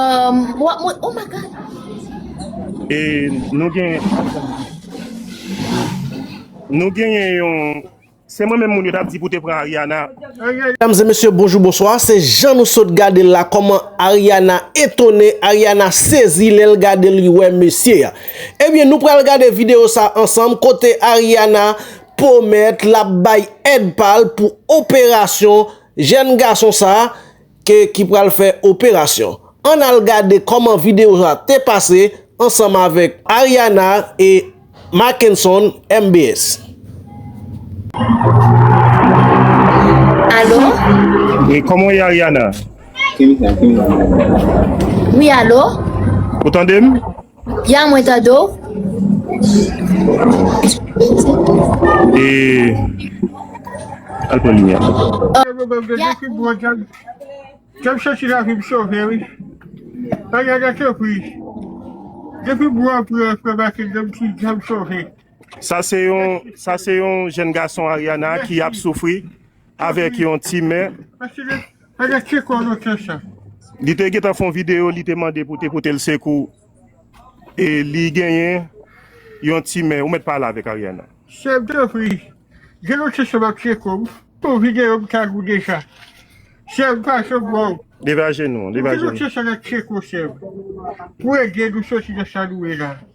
Um, wap mwen, oh my god. E nou gen nou genyen yon se mwen menm moun yo tap di pou te pran Ariana. Mesdames et messieurs, bonjour, bonsoir. Se jan nou sot gade l la, kòman Ariana etone, Ariana sezi lè l gade li wè mesye a. Ebyen, nou pral gade videyo sa ansanm, kote Ariana pwomèt l ap bay èd pa l pou operasyon jèn gason sa. ke ki pral fè operasyon ann al gade kòman video sa te pase ansanm avèk Ariana e Mackenson mbs. Alo? Wi kòman w ye Ariana? Wi alo? Ou tande m? Ya mwen tande w. E al pran limyè la. Sa se yon jèn gason Ariana ki ap soufri. Avèk yon ti men. Li te gentan fon video li te mande pou te potel sekou e li genyen yon ti men ou met pale avèk Ariana. Sèm tanpri gen yon ti sèm ap sekoum pou video m ta gou deja sèm pase m wè w. Leve ajenou, leve ajenou. Gen yon ti sèm ap sekou sèm pou ede nou soti nan sa nou ye la.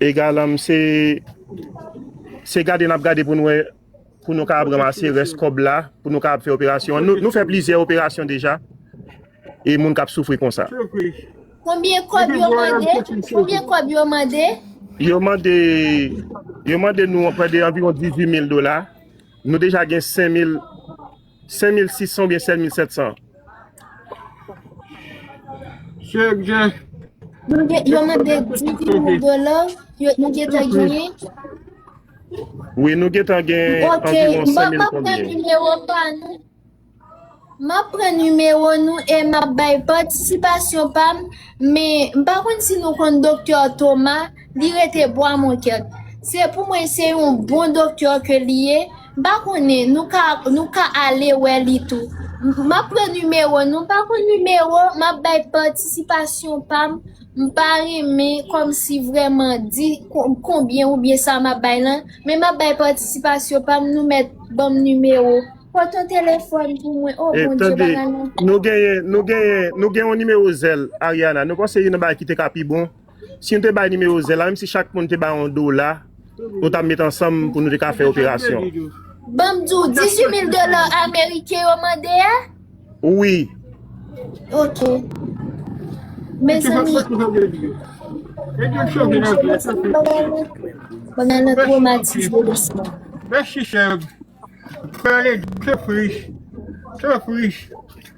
Egalam se Se gade nap gade pou nou wè pou nou kapab ranmase rès kòb la pou nou kapab fè operasyon an. Nou fè plizyè operasyon deja e moun kap soufri konsa. Konbyen kòb yo mande? Konbyen kòb yo mande? Yo mande Yo mande nou prè de anviwon 18 mil dola. Nou deja gen 5 mil 5600 oubyen 7700? Chèk gen. Nou gen, yo mande 10.000 dola, yo nou gen tan genyen. Wi, nou gen tan gen anviron 5000 konbyen. Ok, map pran nimewo pa nou. Map pran nimewo nou e map bay patisipasyon pa m. Men, m pa konn si nou konn Doktè Thomas, li rete Bwa Monkèt. Se pou mwen se yon bon doktè ke li ye. M pa konnen nou ka nou ka ale wè li tou. M ap pran nimewo nou m pa konn nimewo m ap bay patisipasyon pa m m pa renmen kòmsi vrèman di konbyen oubyen sa m ap bay lan men m ap bay patisipasyon pa m nou mèt ban m nimewo pot yon telefòn pou mwen o bondye bagay lan. Nou genyen nou genyen nou gen yon nimewo zèl Ariana nou panse youn nan bagay ki te ka pi bon. Si nou te bay nimewo zen la, menm si chak moun te bay yon dola, nou ta met ansanm pou nou te ka fè operasyon. Banm di w, 18 mil dola ameriken yo mande a? Wi. Ok. Mezanmi. Mwen nan tromatize dousman. Mèsi sè m. Mwen ale jefri. Jefri.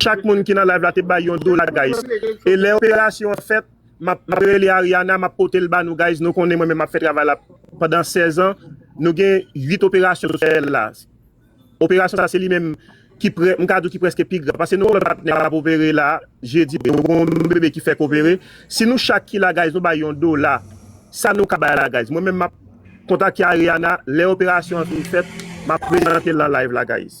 Chak moun ki nan live la te bay yon dola guys e lè operasyon an fèt map rele Ariana map potel ba nou guys nou konnen mwen menm map fè travay la pandan 16 ans nou gen 8 operasyon nou fè la operasyon sa se li menm ki prè mka di ki prèske pi grav pase nou wè patnè kap opere la jedi nou gen yon bebe ki fèk opere si nou chak ki la guys nou bay yon dola sa nou ka bay la guys mwen menm map kontakte Ariana lè operasyon an fin fèt map prezantel nan live la guys.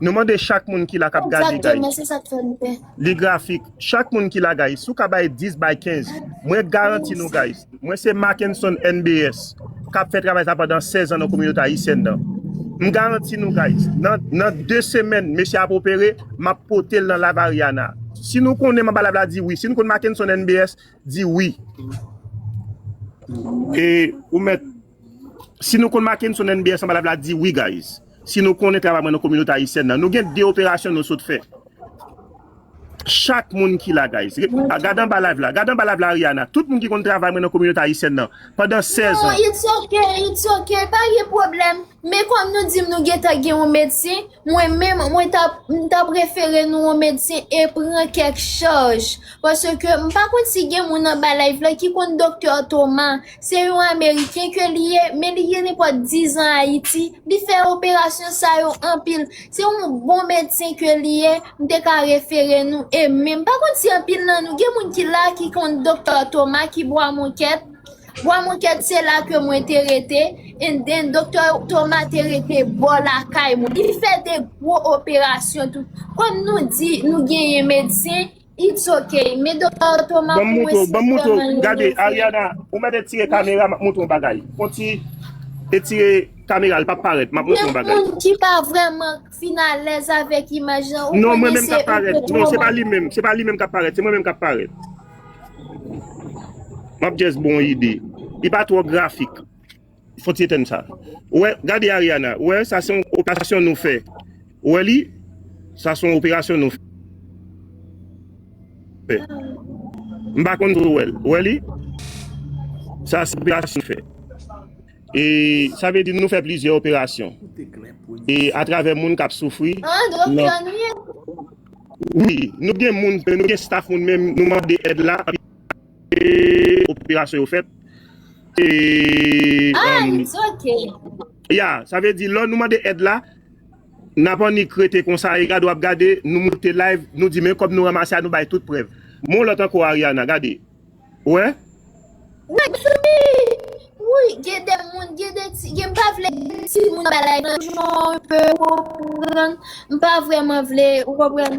Nou mande chak moun ki la kap gade guys li grafik chak moun ki la guys sou ka bay 10 bay 15 mwen garanti nou guys mwen se Mackenson NBS kap fè travay sa pandan 16 an nan kominote ayisyèn nan m garanti nou guys nan 2 semèn mesye ap opere map potel nan live Ariana si nou konnen manba live la di wi si nou konnen Mackenson NBS di wi e ou mèt Si nou konn Mackenson NBS lan balap la di wi guys. Si nou konnen travay mwen nan kominote ayisyèn nan. Nou gen 2 operasyon nou sot fè. Chak moun ki la guys. Gad anba live la. Gad anba live la Ariana. Tout moun ki konn travay mwen nan kominote ayisyèn nan. Pandan 16 ans. It's ok, it's ok, pa gen pwoblèm. Men kòm nou dim nou gentan gen yon medsen, mwen menm mwen tap m tap refere nou yon medsen e pran kèk chaj. Paske m pa konn si gen moun anba live la ki konn Doktè Thomas. Se yon ameriken ke li ye, men li gen nenpòt 10 an Ayiti, li fè operasyon sa yo anpil. Se yon bon medsen ke li ye, m te ka refere nou e menm. Pa kont si anpil nan nou, gen moun ki la ki konn Doktè Toma ki Bwa Monkèt, Bwa Monkèt se la ke mwen te rete, and then Doktè Toma te rete bò lakay mwen. Li fè de gwo operasyon tou. Kòm nou di nou genyen medsen. It's ok, men Doktè Otto m ap wè si m vreman li move. Gade Ariana, ou mèt etire kamera m ap montre yon bagay. Konti etire kamera l pa p parèt m ap montre yon bagay. Gen moun ki pa vreman fin alèz avèk imaj lan ou konnen se ou k twò. Non se pa li menm, se pa li menm k ap parèt, se mwen menm k ap parèt. M ap just ba w yon ide. Li pa twò grafik. Fon ti etèn sa. Ou wè, gade Ariana, ou wè sa se yon operasyon nou fè. Ou wè li? Sa se yon operasyon nou fè. M pa konn si ou wè l. Ou wè li? Sa se operasyon nou fè. E sa vle di nou fè plizyè operasyon. E atravè moun k ap soufri nan. Wi, nou gen moun, nou gen staf moun men nou mande èd la. Eee operasyon yo fèt eee Ahh it's ok. Ya sa vle di lò nou mande èd la Nap annik rete konsa e gade wap gade nou moute live nou di men kòb nou ranmase a nou bay tout prèv M'en yon lòt ankò Ariana gade ou wè. Wè tande Wouyy gen de moun gen de ti gen mpa vle timoun nan bay like lan jon anpe ou konprann mpa vrèman vle ou konprann.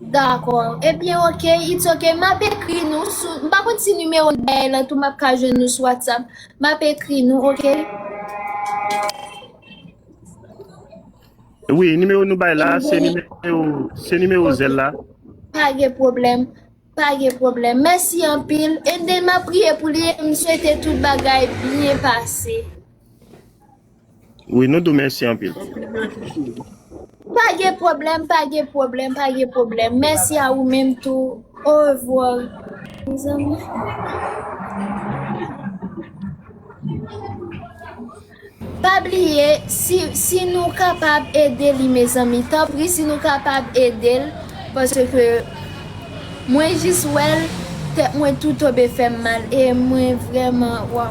Dakò ebyen ok it's ok map ekri nou sou m pa konn si nimewo n bay la tou map ka jwenn nou sou whatsapp map ekri nou ok. Wi nimewo nou bay la se nimewo se nimewo zèl la. Pa gen pwoblèm pa gen pwoblèm mèsi anpil and then map priye pou li e m swete tout bagay byen pase. Wi nou tou mèsi anpil. Pa gen pwoblèm pa gen pwoblèm pa gen pwoblèm mèsi a ou menm tou orevwar mezanmi. Pa bliye si nou kapab ede li mezanmi tanpri si nou kapab edel paske mwen jis wèl tèt mwen tou tobe fèm mal e mwen vrèman waw.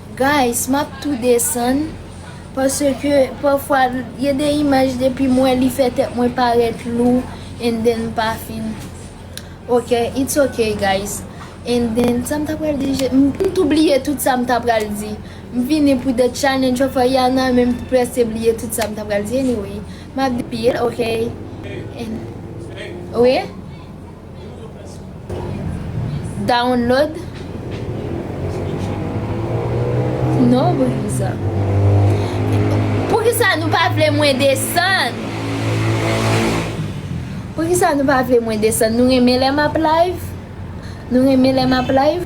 Guys map tou desann paske pafwa gen de imaj depim wè li fè tèt mwen parèt lou and then m pa fin ok it's ok guys and then sam ta pral di je m tou bliye tout sam ta pral di m vini pou the challenge of Ariana menm tou prese bliye tout sam ta pral di anyway map di anpil ok and wi. Download Non pou ki sa Pou ki sa nou pa vle mwen desann Pou ki sa nou pa vle mwen desann Nou renmen lè map live Nou renmen lè map live